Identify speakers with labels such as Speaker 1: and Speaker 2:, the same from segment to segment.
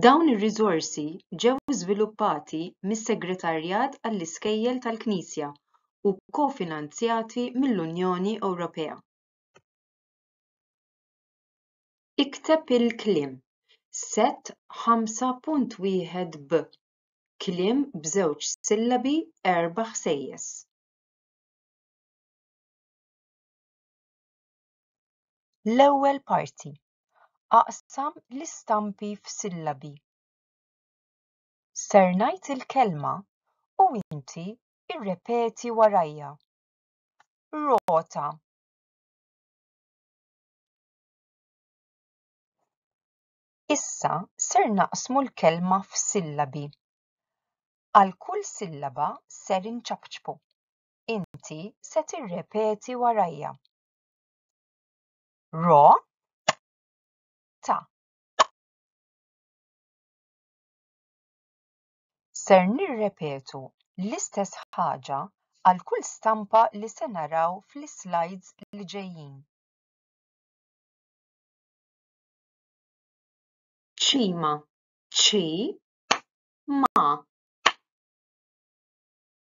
Speaker 1: Dawn ir-riżorsi ġew żviluppati mis-Segretarjat għall-Iskejjel tal-Knisja u kofinanzjati mill-Unjoni Ewropea. Ikteb il-kliem Set 5.1 b Kliem b'żewġ sillabi erba' ħsejjes. L-ewwel parti. Aqsam l-istampi f'sillabi. Ser ngħid il-kelma u inti irrepeti warajja. Rota. Issa ser naqsmu l-kelma f'sillabi. Għal kull sillaba ser inċapċpu. inti se tirrepeti warajja. Ro ta. Ser nirrepetu l-istess ħaġa għal kull stampa li se naraw fl-islides li ġejjin. Ċima, ċi, ma.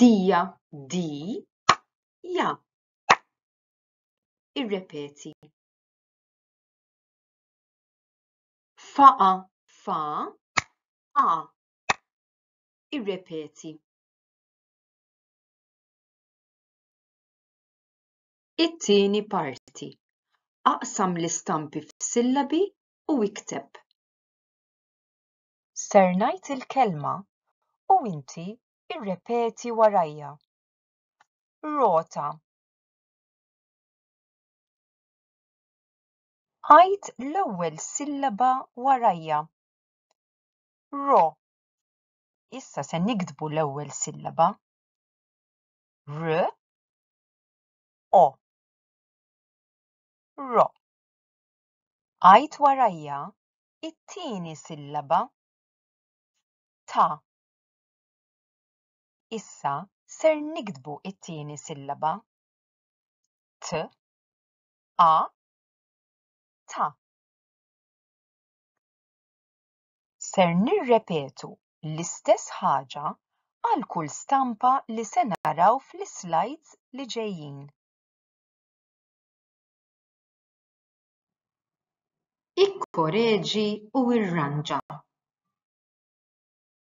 Speaker 1: Dija, di, ja. Irrepeti. Faqa, fa, a. Irrepeti. It-tieni parti. Aqsam l-istampi f'sillabi u ikteb. Ser ngħid il-kelma u inti Irrepeti warajja. Rota. Għid l-ewwel sillaba warajja. Ro. Issa se niktbu l-ewwel sillaba. R. O. Ro. Għid warajja it-tieni sillaba. Ta. Issa ser niktbu it-tieni sillaba. T, a, ta. Ser nirrepetu l-istess ħaġa għal kull stampa li se naraw fl-islides li ġejjin. Ikkoreġi u irranġa.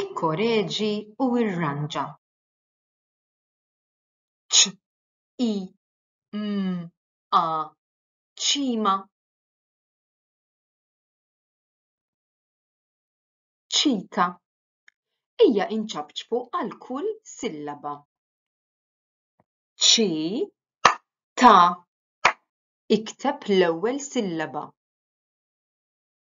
Speaker 1: Ikkoreġi u irranġa. Ċ, i, m, a, ċima. Ċika. Ejja inċabċbu għal kull sillaba. Ċi, ta, ikteb l-ewwel sillaba.